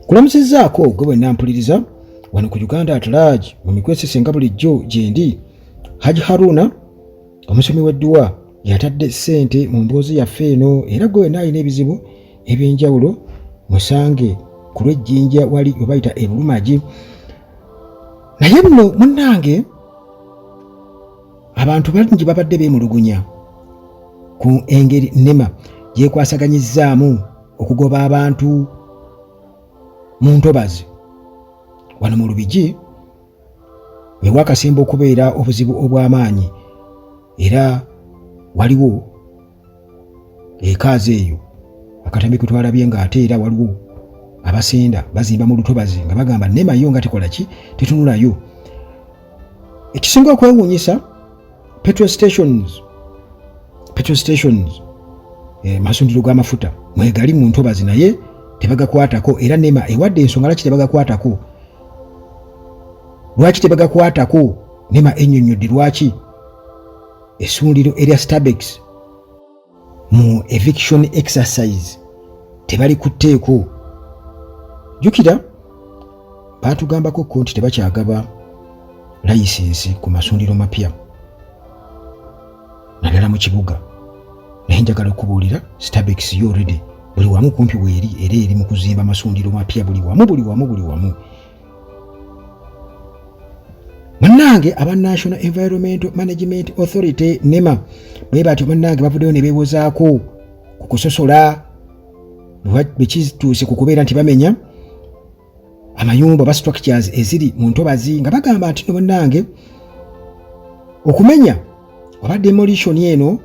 kulamusizzaako gwe bwe nampuliriza wano ku uganda atalaagi mu mikwesisinga bulijjo gyendi haji haruna omusomi w'edduwa yatadde ssente mu mboozi yaffe eno era gwe wena alina ebizibu eby'enjawulo musange ku lw'ejjinja wali we bayita ebulumagi naye nno munnange abantu bangi babadde beemulugunya ku engeri nema gyekwasaganyizzaamu okugoba abantu mu ntobazi wano mu lubigi wewakasemba okubeera obuzibu obw'amaanyi era waliwo ekaazi eyo akatambi kwe twalabye nga ate era waliwo abasenda bazimba mu lutobazi nga bagamba nema yo nga tekola ki tetunulayo ekisinga okwewuunyisa petrol stations petrol stations eh, masundiro g'amafuta mwegali mu ntobazi naye tebagakwatako era nema ewadde ensonga laki tebagakwatako lwaki tebagakwatako nema ennyonnyodde lwaki esundiro erya stabex mu eviction exercise tebali ku tteeko jjukira baatugambako ko nti tebakyagaba layisinsi ku masundiro mapya naddala mu kibuga naye njagala okubuulira stabex yo redi buli wamu kumpi weeri era eri mu kuzimba masundiro mapya buli wamu buli wamu buli wamu bannange aba national environmental management authority nema bwe batyo bannange bavuddeyo ne beewozaako ku kusosola bwe kituuse ku kubeera nti bamenya amayumba oba structures eziri mu ntobazi nga bagamba nti no bannange okumenya oba demolition eno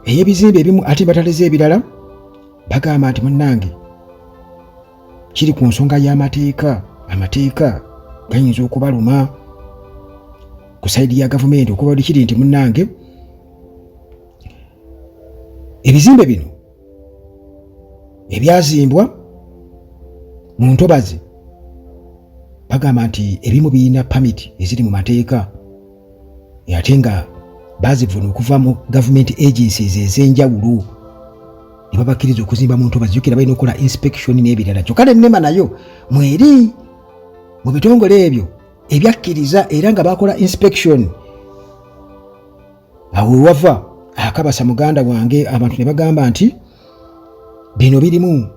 ey'ebizimbe ebimu ate bataleze ebirala bagamba nti munnange kiri ku nsonga y'amateeka amateeka gayinza okubaluma ku saidi ya gavumenti okubadde kiri nti munnange ebizimbe bino ebyazimbwa mu ntobazi bagamba nti ebimu birina pamiti eziri mu mateeka ate nga bazivuna okuva mu government agencies ez'enjawulo ne babakkiriza okuzimba mu ntobazi jukira balina okukola inspection n'ebirala kyokka ne nema nayo mweri mu bitongole ebyo ebyakkiriza era nga bakola inspection awo wewava akabasa muganda wange abantu ne bagamba nti bino birimu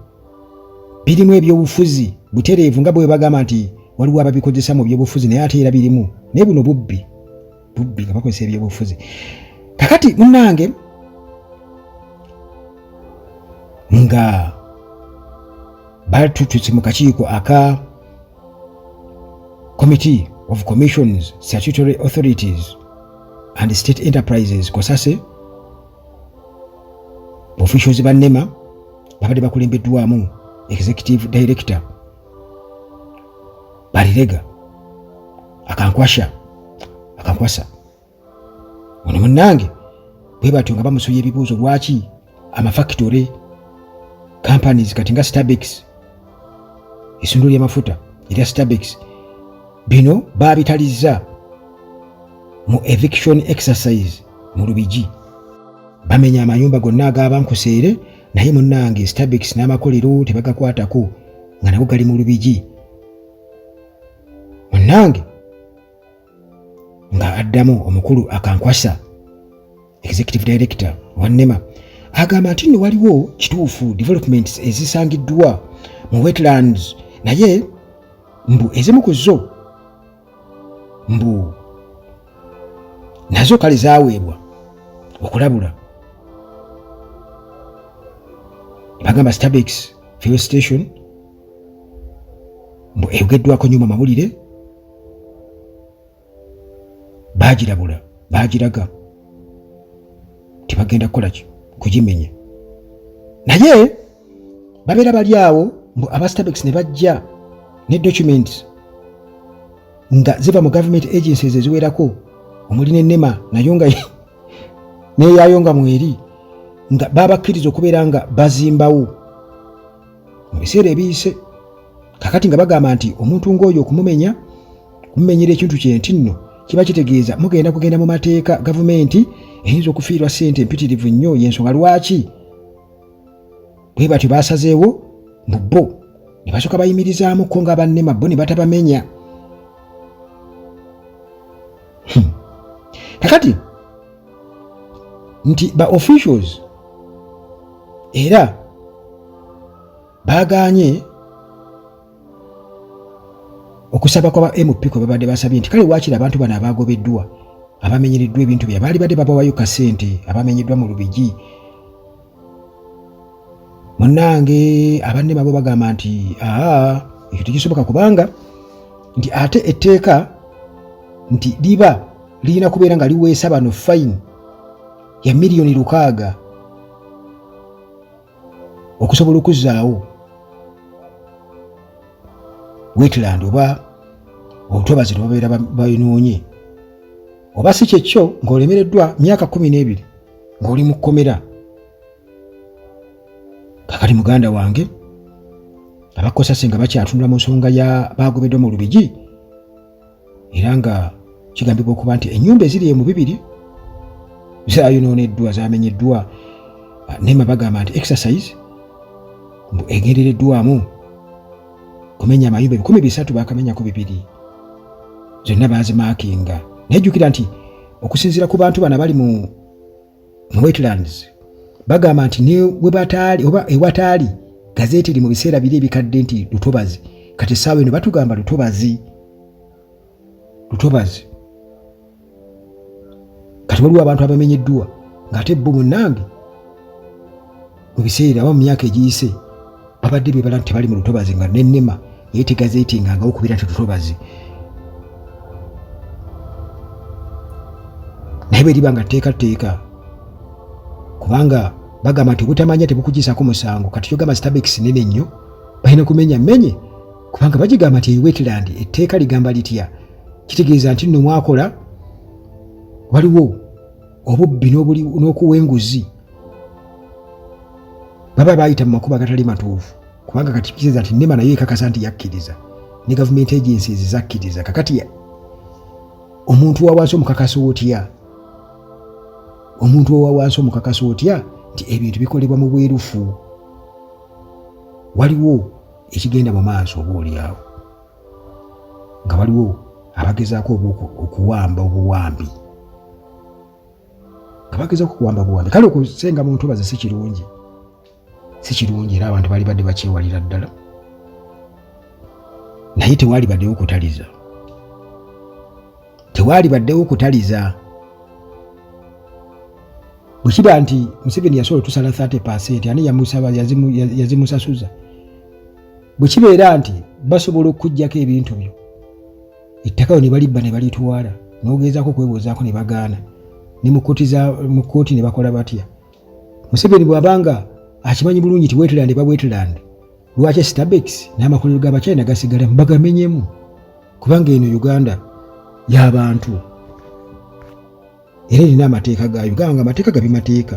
birimu ebyobufuzi butereevu nga bwe bagamba nti waliwo ababikozesa mu byobufuzi naye ate era birimu naye buno bubbi bubbi nga bakozesa ebyobufuzi kakati munange nga batututse mu kakiiko aka committee of commissions statutory authorities and state enterprises kosase officials ba nema babadde bakulembeddwamu executive director balirega akankwasha akankwasa ono munnange bwe batyo nga bamusoya ebibuuzo lwaki amafakitore companies kati nga stabics essundiro ly'amafuta erya stabex bino baabitalizza mu eviction exercise mu lubigi bamenya amayumba gonna agaabankuseere naye munnange stabex n'amakolero tebagakwatako nga nago gali mu lubigi munnange nga addamu omukulu akankwasa executive director wa nema agamba nti nno waliwo kituufu developments ezisangiddwa mu wetlands naye mbu ezimu ku zo mbu nazo kale zaweebwa okulabula bagamba stabex fuel station mbu eyogeddwako nyo mu mawulire baagirabula baagiraga nti bagenda kukola ki kugimenya naye babeera bali awo mbu abastabex ne bajja ne documents nga ziva mu government agencies eziwerako omuli nenema nayo nga neyayo nga mweri nga babakkiriza okubeera nga bazimbawo mu biseera ebiyise kakati nga bagamba nti omuntu ng'oyo okumumenya kumumenyera ekintu kye nti nno kiba kitegeeza mugenda kugenda mu mateeka gavumenti eyinza okufiirwa ssente empitirivu nnyo y'ensonga lwaki bwe batyo baasazeewo mu bo ne basooka bayimirizaamu ko nga bannema bo ne batabamenya hmm. kakati nti ba officials era baaganye okusaba kwa ba mp kwe babadde basabye nti kale waakiri abantu bano abaagobeddwa abamenyereddwa ebintu bya baali badde babawayo kasente abamenyeddwa mu lubigi munange abanne babo bagamba nti aa ekyo tekisoboka kubanga nti ate etteeka nti liba lirina kubeera nga liweesa bano fayini ya miliyoni lukaaga okusobola okuzzaawo wetland oba obutobazi lwebabeera bayinoonye oba si kyekyo ng'olemereddwa myaka kumi n'ebiri ng'oli mu kkomera kakati muganda wange abakosase nga bakyatunula mu nsonga ya baagobeddwa mu lubigi era nga kigambibwa okuba nti ennyumba eziri emu bibiri zayonooneddwa zamenyeddwa ah, nema bagamba nti exercise mbu egendereddwamu kumenya amayumba ebikumi bisatu bakamenyako bibiri zonna baazimaakinga naye jjukira nti okusinziira ku bantu bana bali mu wetlands bagamba nti newebataali oba ewataali gazeeti eri mu biseera biri ebikadde nti lutobazi kati essaawa eno batugamba lutobazi lutobazi kati waliwo abantu abamenyeddwa ng'ate bo munnange mu biseera oba mu myaka egiyise babadde bebala nti tebali mu lutobazi nga nenema naye tegazeetingangawo kubeera nti lutobazi naye beriba nga tteeka tteeka kubanga bagamba nti obutamanya tebukugyisaako musango kati kyogamba stabekisi nene nnyo balina kumenya menye kubanga bagigamba nti ewetland etteeka ligamba litya kitegeeza nti nno mwakola waliwo obubbi n'okuwa enguzi baba baayita mu makubo agatali matuufu kubanga kati kiriza nti nema nayo ekakasa nti yakkiriza ne gavumenti egensi ezi zakkiriza kakati omuntu wawansi omukakasa otya omuntu owawansi omukakasa otya nti ebintu bikolebwa mu bwerufu waliwo ekigenda mu maaso oba olyawo nga waliwo abagezaako okuwamba obuwambi abageza okukuwamba buwambi kale okusenga mu ntobazi si kirungi si kirungi era abantu bali badde bakyewalira ddala naye tewaali baddewo okutaliza tewaali baddewo okutaliza bwe kiba nti museveni yasobola otusala 30 percent ani yamusaba yazimusasuza bwe kibeera nti basobola okukuggyako ebintu byo ettaka ne balibba ne balitwala n'ogezaako okwebuuzaako ne bagaana ne mu kkooti ne bakola batya museveni bw'aba nga akimanyi bulungi ti wetland ba wetland lwaki stabex n'amakolero ga bachina gasigala bagamenyemu kubanga eno uganda y'abantu era erina amateeka gaayo gamba nga amateeka gabimateeka